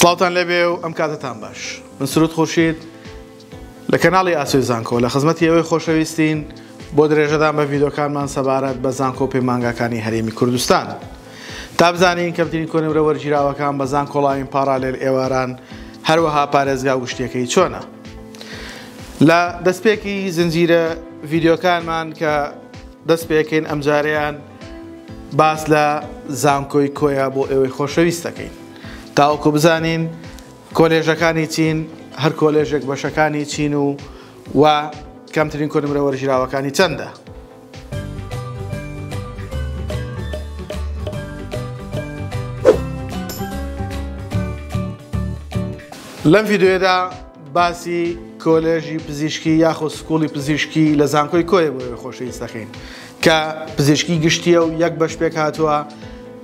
سڵاوتان لێبێ و ئەم کاتەتان باش. من سرود خورشید لە کەناڵی ئاسۆی زانکۆ لە خزمەتی ئێوەی خۆشەویستین بۆ درێژەدان بە ڤیدۆکانمان سەبارەت بە زانکۆ و پەیمانگاکانی هەرێمی کوردستان. تا بزانین کەمترین کۆنمرە وەرگیراوەکان بە زانکۆڵاین پاڕالێل ئێواران هەروەها پارێزگا و گشتیەکەی چۆنە. لە دەستپێکی زنجیرە ڤیدۆکانمان کە دەست پێکەین ئەمجارەیان باس لە زانکۆی کۆیە بۆ ئێوەی خۆشەویست دەکەین. تاوەکو بزانین کۆلێژەکانی چین، هەر کۆلێژێک بەشەکانی چین و و کەمترین کۆنمرە وەرگیراوەکانی چەندە؟ لەم ڤیددیوێدا باسی کۆلێژی پزیشکی یاخۆ سکوڵی پزیشکی لە زانکۆی کۆیە بۆ خۆشەویست دەکەین کە پزیشکی گشتیە و یەک بەش پێک هاتووە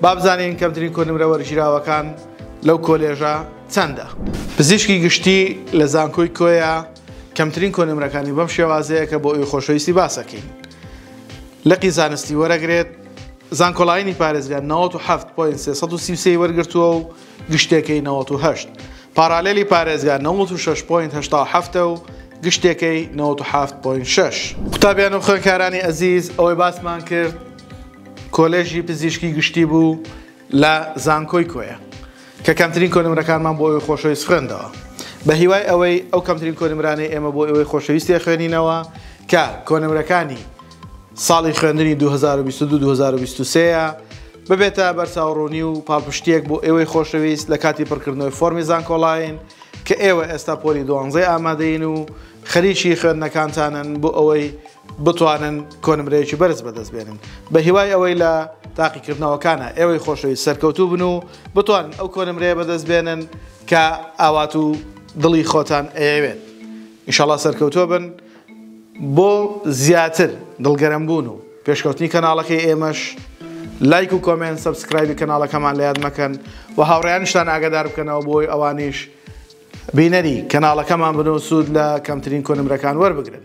بابزانین کەمترین کۆنمرە وەرگیراوەکان لەو کۆلێژە چەندە پزیشکی گشتی لە زانکۆی کۆیە کەمترین کۆنمرەکانی بەم شێوازەیە کە بۆ ئەوی خۆشەویستی باسەکەین لقی زانستی وەرەگرێت زانکۆڵاینی پارێزگا 97.333 وەرگرتووە و گشتەکەی نەوەت و هەشت پاڕالێلی پارێزگا نەوەت و شەش پۆینت هەشتا و حەفت ە و گشتەکەی نەوەت و حەفت پۆینت شەش. قوتابیان و خوێنکارانی ئەزیز ئەوەی باسمان کرد کۆلێژی پزیشکی گشتی بوو لە زانکۆی کۆیە کە کەمترین کۆنمرەکانمان بۆ ئەوی خۆشەویست خوێندەوە بە هیوای ئەوەی ئەو کەمترین کۆنمرانەی ئێمە بۆ ئەوەی خۆشەویست تێخوێنینەوە کە کۆنمرەکانی ساڵی خوێندنی دوو هەزار و بیست و دوو دوو هەزار و بیست و سێ یە ببێتە بەرچاوڕوونی و پاڵپشتییەک بۆ ئێوەی خۆشەویست لە کاتی پڕکردنەوەی فۆرمی زانکۆڵاین کە ئێوە ئێستا پۆلی دوانزەی ئامادەین و خەریکی خوێندنەکانتانن بۆ ئەوەی بتوانن کۆنمرەیەکی بەرز بەدەست بێنن بە هیوای ئەوەی لە تاقیکردنەوەکانە ئێوەی خۆشەویست سەرکەوتوو بن و بتوانن ئەو کۆنمرەیە بەدەست بێنن کە ئاوات و دڵی خۆتان ئەیەوێت ئینشاڵا سەرکەوتووە بن بۆ زیاتر دڵگەرم بوون و پێشکەوتنی کەناڵەکەی ئێمەش لایک و کۆمێنت سەبسکرایبی کەناڵەکەمان لە یاد مەکەن و هاوڕێیانشتان ئاگادار بکەنەوە بۆی ئەوانیش بینەری کەناڵەکەمان بن و سوود لە کەمترین کۆنمرەکان وەربگرن.